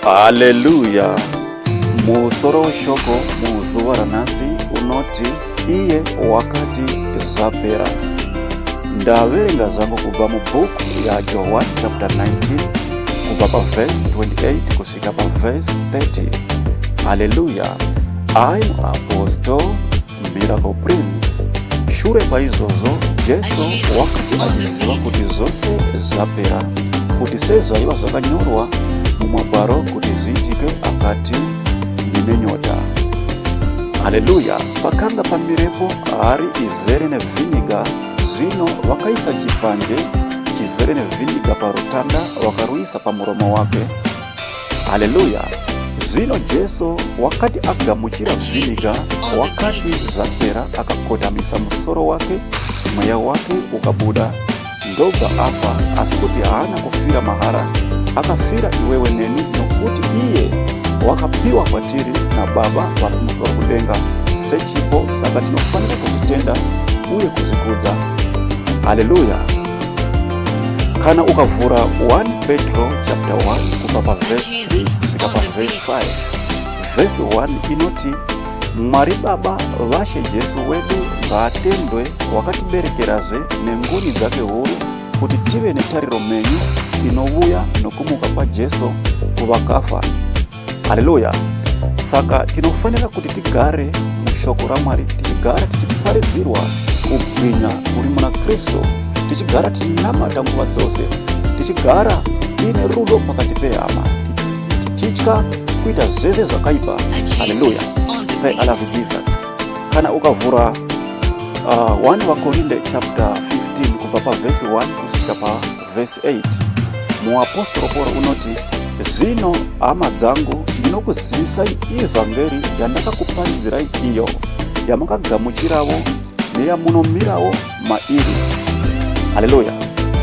Haleluya! Musoro weshoko muzuva ranhasi unoti iye wakati zvapera. Ndaverenga zvangu kubva mubhuku yaJohwani chapter 19 kubva pavhesi 28 kusvika pavhesi 30. Haleluya! I'm Apostle Miracle Prince Shure kwaizvozvo Jesu wakati achiziva kuti zvose zvapera, kuti sezvaiva zvakanyorwa mumagwaro kuti zviitike, akati, Ndine nyota. Haleluya! Pakanga pamirepo hari izere nevhiniga. Zvino vakaisa chipande chizere nevhiniga parutanda, vakaruisa pamuromo wake. Haleluya! Zvino Jesu wakati agamuchira vhiniga, wakati zvapera, akakotamisa musoro wake, mweya wake ukabuda, ndobva afa, asi kuti haana kufira mahara, akafira iwewe neni, nokuti iye wakapiwa kwatiri naBaba vari kumusoro kudenga sechipo, saka tinofanira kuzvitenda uye kuzvikudza. Haleluya! kana ukavhura 1 petro chapter 1 kubva pavhesi kusvika pavhesi 5 vhesi 1 inoti mwari baba vashe jesu wedu ngaatendwe wakatiberekerazve nengoni dzake huru kuti tive netariro menyu inovuya nokumuka kwajesu kuvakafa Haleluya! Saka tinofanira kuti tigare mushoko raMwari, tichigara tichiparidzirwa kubwinya kuri muna Kristu, tichigara tichinamata nguva dzose, tichigara tiine rudo pakati pehama, tichitya kuita zvese zvakaipa. Haleluya! Say I love Jesus. Kana ukavhura uh, 1 vakorinde chapter 15 kubva pavhesi 1 kusvika pa Vhesi 8 Muapostora Pauro unoti, Zvino, hama dzangu, ndinokuzivisai ivhangeri yandakakuparidzirai iyo, yamakagamuchiravo neyamunomirawo mairi. Haleluya!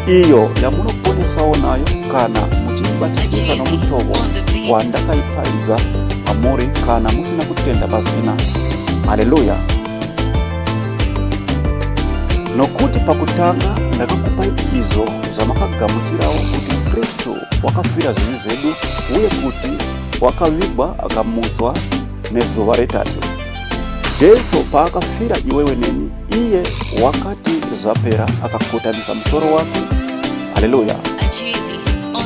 Iyo yamunoponeswawo nayo kana muchiibatisisa nomutovo wandakaiparidza kwamuri kana musina kutenda pasina. Haleluya! Nokuti pakutanga ndakakupai izvo zvamakagamuchirawo kuti Kristu wakafira zvivi zvedu uye kuti wakavigwa akamutswa nezuva retatu. Jesu paakafira iwewe neni, iye wakati zvapera akakotamisa musoro wake. Haleluya!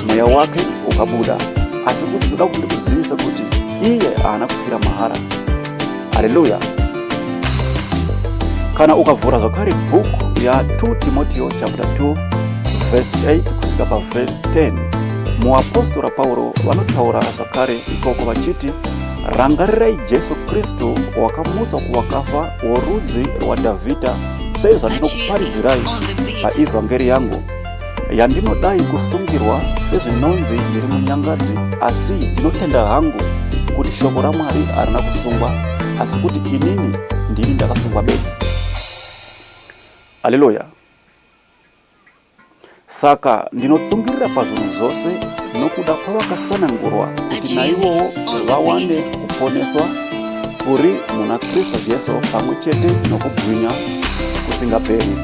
Mweya wake ukabuda. Asi kuti ndoda kuti ndikuzivise kuti iye haana kufira mahara. Haleluya! Kana ukavhura zvakare bhuku ya 2 Timotio chapter 2 verse 8 kusvika paverse 10, muapostora Pauro vanotaura zvakare ikoko vachiti, Rangarirai Jesu Kristu wakamutswa kuvakafa worudzi rwaDhavhidha, seizvandinokuparidzirai paivhangeri yangu yandinodai kusungirwa sezvinonzi ndiri munyangadzi asi ndinotenda hangu kuti shoko ramwari harina kusungwa asi kuti inini ndini ndakasungwa bedzi aleluya saka ndinotsungirira pazvinhu zvose nokuda kwavakasanangurwa kuti naivowo vawane kuponeswa kuri muna kristu jesu pamwe chete nokubwinya kusingaperi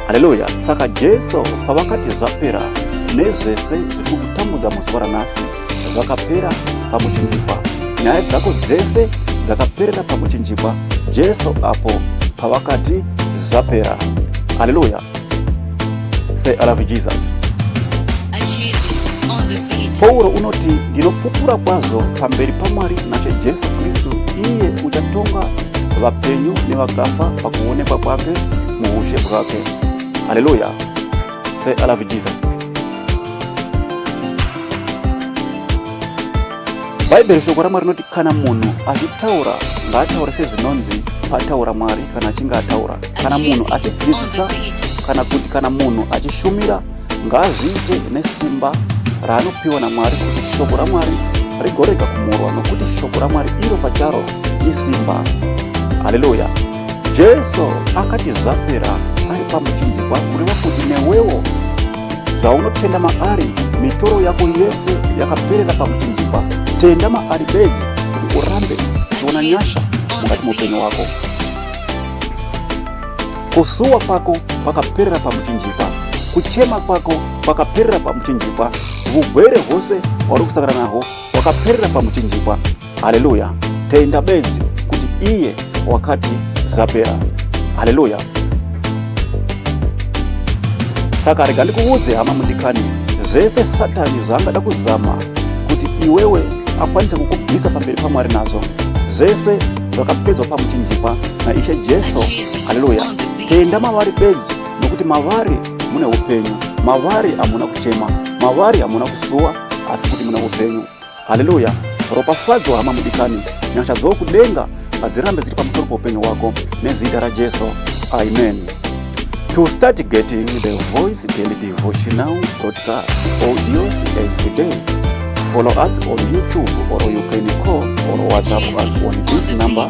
Haleluya! Saka Jesu pavakati zvapera nezvese zviri kukutambudza muzuva ranhasi zvakapera pamuchinjikwa, nyaya dzako dzese dzakaperera pamuchinjikwa Jesu apo pavakati zvapera. Haleluya! Say I love Jesus. Pauro unoti ndinopupura kwazvo pamberi paMwari naShe Jesu Kristu, iye uchatonga vapenyu nevakafa pakuonekwa kwake muushe bwake haleluya se i love jesus bhaibheri shoko ramwari rinoti kana munhu achitaura ngaataure sezvinonzi pataura mwari kana achinge ataura kana munhu achidzidzisa kana kuti kana munhu achishumira ngaazviite nesimba raanopiwa namwari kuti shoko ramwari rigorega kumurwa nokuti shoko ramwari iro pacharo isimba haleluya Jesu akati zvapera ari pamuchinjikwa kureva kuti newewo zvaunotenda maari mitoro yako yese yakaperera pamuchinjikwa. Tenda maari bedzi kuti urambe uchiona nyasha mukati muupenyu wako. Kusuwa kwako kwakaperera pamuchinjikwa, kuchema kwako kwakaperera pamuchinjikwa, vugwere hwose hwauri kusangana nahwo wakaperera pamuchinjikwa haleluya tenda bedzi kuti iye wakati zvapera haleluya saka rega ndikuudze hama mudikani zvese satani zvaangada kuzama kuti iwewe akwanise kukubvisa pamberi pamwari nazvo zvese zvakapedzwa pamuchinjikwa naishe jesu haleluya tenda mavari bedzi nokuti mavari mune upenyu mavari hamuna kuchema mavari hamuna kusuwa asi kuti mune upenyu haleluya ropafadzwa hama mudikani nyasha dzokudenga ngadzirambe dziri pamusoro poupenyu hwako nezita rajesu amen to start getting the voice daily devotional broadcast audios every day follow us on youtube or you can call or whatsapp us on this number